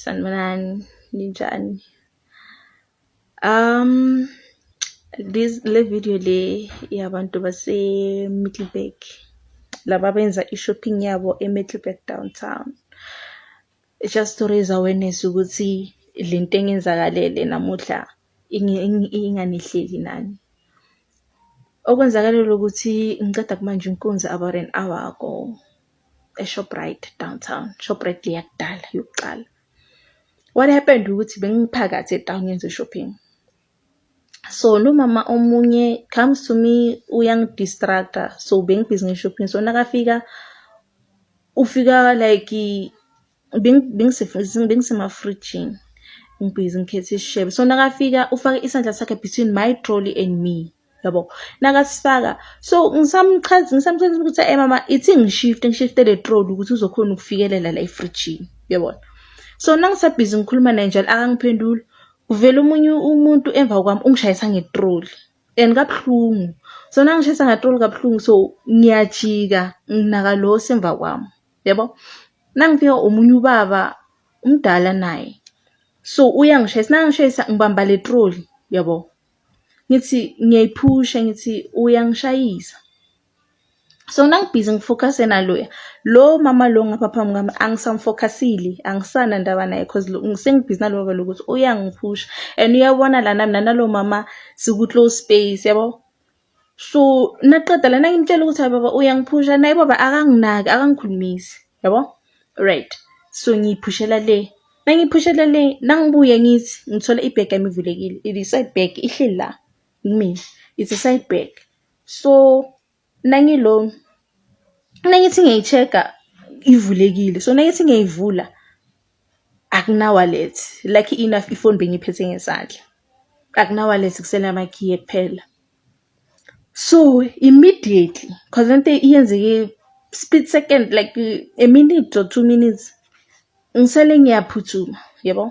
Sanibonani ninjani um this le video le yabantu base Middleburg laba benza i-shopping yabo e-Middleburg downtown just to raise awareness ukuthi le nto engenzakalele namuhla inganihleli nani. Okwenzakale ukuthi ngiqeda kumanje inkunzi about an hour ago. eShoprite downtown. Shoprite le yakudala yokuqala. What happened ukuthi bengiphakathi etown ngenze shopping. So lo mama omunye comes to me uyangidistracta so bengibhizi nge-shopping so nakafika ufika like bengisemafrijini ngibhizi ngikhetha isishebo so nakafika ufake isandla sakhe between my trolley and me yabo nakasifaka so ngisamchaza ngisamchazela ukuthi hey mama ithi ngishifte ngishifte le trolley ukuthi uzokhona ukufikelela la efrijini yabona so nangisabhizi ngikhuluma naye njalo akangiphenduli kuvela omunye umuntu emva kwami ungishayisa ngetroli and kabuhlungu so nangishayisa ngetroli kabuhlungu so ngiyajika nginaka lo osemva kwami yabo nangifika omunye ubaba umdala naye so uyangishayisa nangishayisa ngibamba le troli yabo ngithi ngiyayiphusha ngithi uyangishayisa so nangibhizi ngifocuse naloya lo mama lo ngapha phambi kwami angisamfocusile angisana ndaba naye cause sengibhizi nalo baba lokuthi uyangiphusha and uyabona lana mina nalo mama siku-close space yabo So naqeda lana ngimtshela ukuthi hayi baba uyangiphusha naye baba akanginaki akangikhulumisi yabo right so ngiyiphushela le nangiphushela le nangibuye ngithi ngithola ibhegi yami ivulekile it is side bag ihleli la kumina it's a side bag so nangilo nangithi ngiyayi-check-a ivulekile so nangithi ngiyayivula Akuna-wallet, lucky enough ifoni bengiyiphethe ngesandla. Akuna-wallet kusele amakhiye kuphela. So immediately cause lento yenzeke split second like a minute or two minutes ngisale ngiyaphuthuma yabo.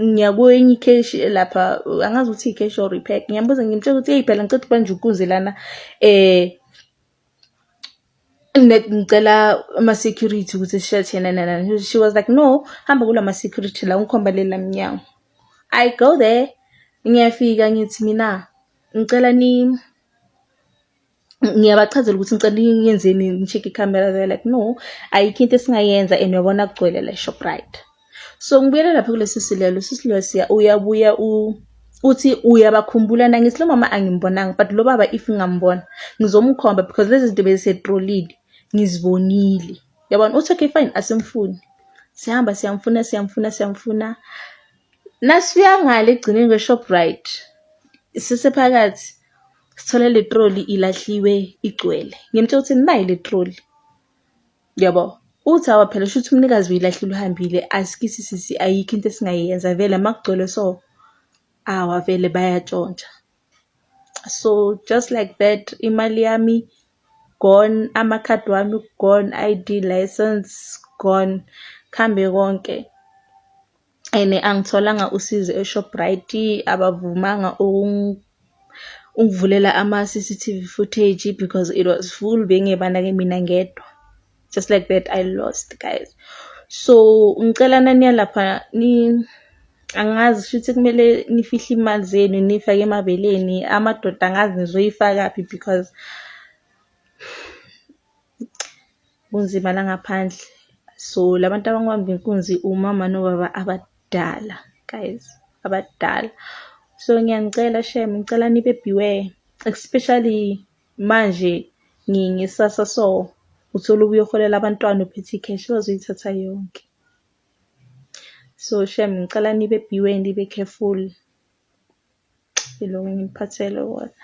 Ngiya kwenye ikheshi elapha angazi ukuthi ikheshi or iphepha ngiyambuza ngimtshela ukuthi eyi phela ngicela ukubanjwa inkunzi lana . ngicela ama-security ukuthi sisheshe nananani she was like no hamba kula ma-security la ungikhomba lela mnyango i go there ngiyafika ngithi mina ngicela ni ngiyabachazela ukuthi ngicela niyenzeni ni-check-e ikhamera they were like no ayikho into esingayenza and uyabona kugcwele la eShoprite. so ngibuyela lapha kulesi silelo sisilelo siya uyabuya u uthi uyabakhumbula na ngithi lo mama angimbonanga but lo baba if ngingambona ngizomkhomba because lezi zinto bezisetrolile ngizibonile yabona uthi okay fine asimfuni sihamba siyamfuna siyamfuna siyamfuna nasifika ngale egcineni kwe-shoprite sisephakathi sithole le troli ilahliwe igcwele ngimtshela ukuthi nayi le troli Yabo. Uthi awa phela shuthi umnikazi uyilahlile uhambile asikisi sisi ayikho into esingayenza vele makugcwele so awa vele bayatshontsha. So just like that imali yami gone, amakhadi wami gone, I_D, license gone kuhambe konke. and angitholanga usizo eShoprite abavumanga ungivulela ama-C_C_T_V footage because it was full bengebanake mina ngedwa just like that I lost guys. So ngicela naniya lapha ni angazi shuthi kumele nifihle imali zenu niyifake emabeleni amadoda angazi nizoyifakaphi because Kunzima la ngaphandle so labantu abangibamba inkunzi umama nobaba abadala guys abadala so ngiyanicela shem ngicela nibe beware especially manje ngisasa so uthole ubuye uholela abantwana uphethe ikheshi bazoyithatha yonke so shem ngicela nibe beware nibe careful ilokho engiphathele wona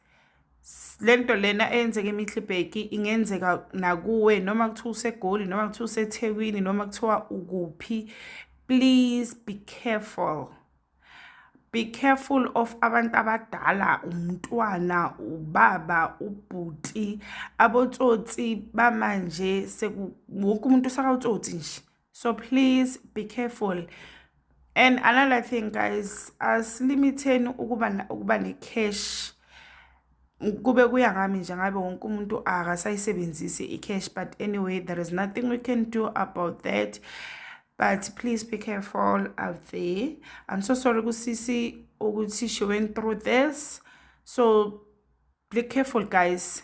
le nto lena eyenzeka emihlibheki ingenzeka nakuwe noma kuthiwa usegoli noma kuthiwa usethekwini noma kuthiwa ukuphi please be careful be careful of abantu abadala umntwana ubaba ubhuti abotsotsi bamanje wonke umuntu usakawutsotsi nje so please be careful and another thing guys asilimitheni ukuba ukuba ne-cash kube kuya ngami nje ngabe wonke umuntu akasayisebenzisi i-cash but anyway there is nothing we can do about that but please be careful out there i'm so sorry kusisi ukuthi she went through this so be careful guys